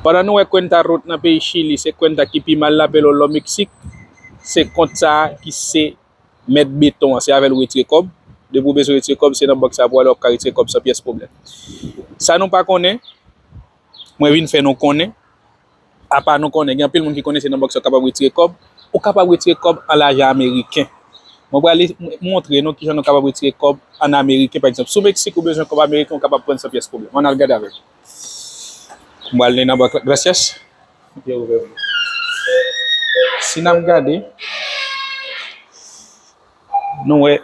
Pandan nou wè kwenta rot nan peyi chili se kwenta ki pi mal la pelo lò meksik se kont sa ki se mèt beton an se avèl ou retire kòb depi ou bezwen retire kòb se nan bank sa pou ale wap ka retire kòb san pyès pwoblèm sa nou pa konnen mwen vin fè nou konnen apa nou konnen gen anpil moun ki konnen se nan bank sa ou kapab retire kòb ou kapab retire kòb an lajan ameriken mwen prale montre nou kijan nou kapab retire kòb an ameriken pa egzanp sou meksik ou bezwen kòb ameriken ou kapab prann san pyès pwoblèm ann al gade avèm. Mwen al nan bank gracias. Yo ouvè pou. Si n ap gade, nou wè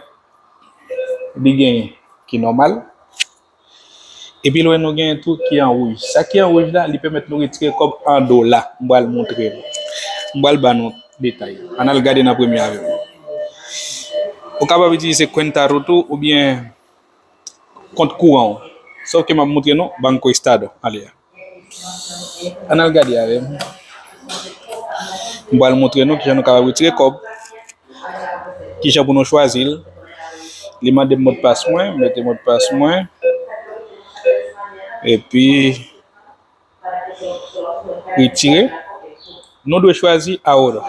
li gen ki nòmal. E pi lwen nou gen tou ki an wouj. Sa ki an wouj la, li pèmèt nou retire kòb an dola. Mwen pral montre nou. Mwen pral ban nou detay. An al gade nan premye avèm. Ou kapab itilize Cuenta Ruto oubyen. kont kouran w sòf ke map moutre nou banco estado ale a an al gade avèm m pral moutre nou kijan nou kapab retire kòb kijan pou nou chwazi l li mande m modpas mwen m mete modpas mwen epi retire nou dwe chwazi ahora.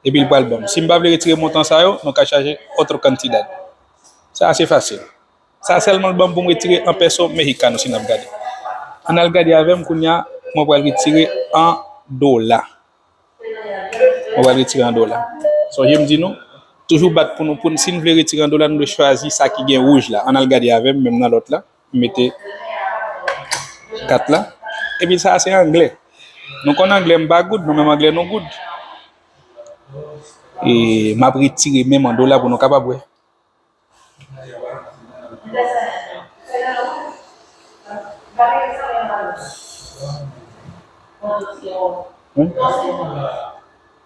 Epi li pral banm. Sim pa vle retire montan sa yo, nou ka chaje otro cantidad. Sa ase fasil. Sa selman l banm poum retire 1 peso mexicano si nap gade. An al gade avem kounya mwen pral retire an dola. Mwen pral retire an dola. Sonje m di nou, toujou bat pou nou poun sin vle retire an dola nou dwe chwazi sa ki gen wouj la. An al gade avem menm nan lot la. mete kat la epi sa a se anglè nou konn anglè m pa good nou menm anglè nou good e m ap retire menm an dola pou nou kapab wè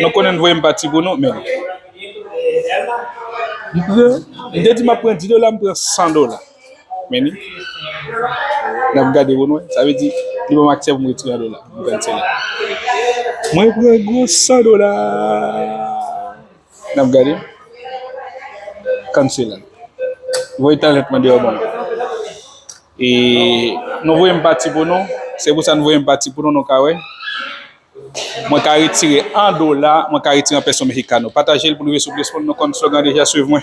Nou konnen n voye m pati pou nou men M pran M te di m ap pran 10 dola m pran 100 dola men ni N ap gade pou nou wè sa vle di li ban m aksè pou m retire 1 dola m pran sèl la Mwen pran gwo 100 dola N ap gade Kannsela Voye talent mande yo ban m E nou voye m pati pou nou, se pou sa nou voye m pati pou nou, nou ka wè. Mwen ka retire 1 dola, mwen ka retire 1 peso mexicano. Pataje l pou nou rive sou plis moun, nou konn slogan deja, swiv mwen.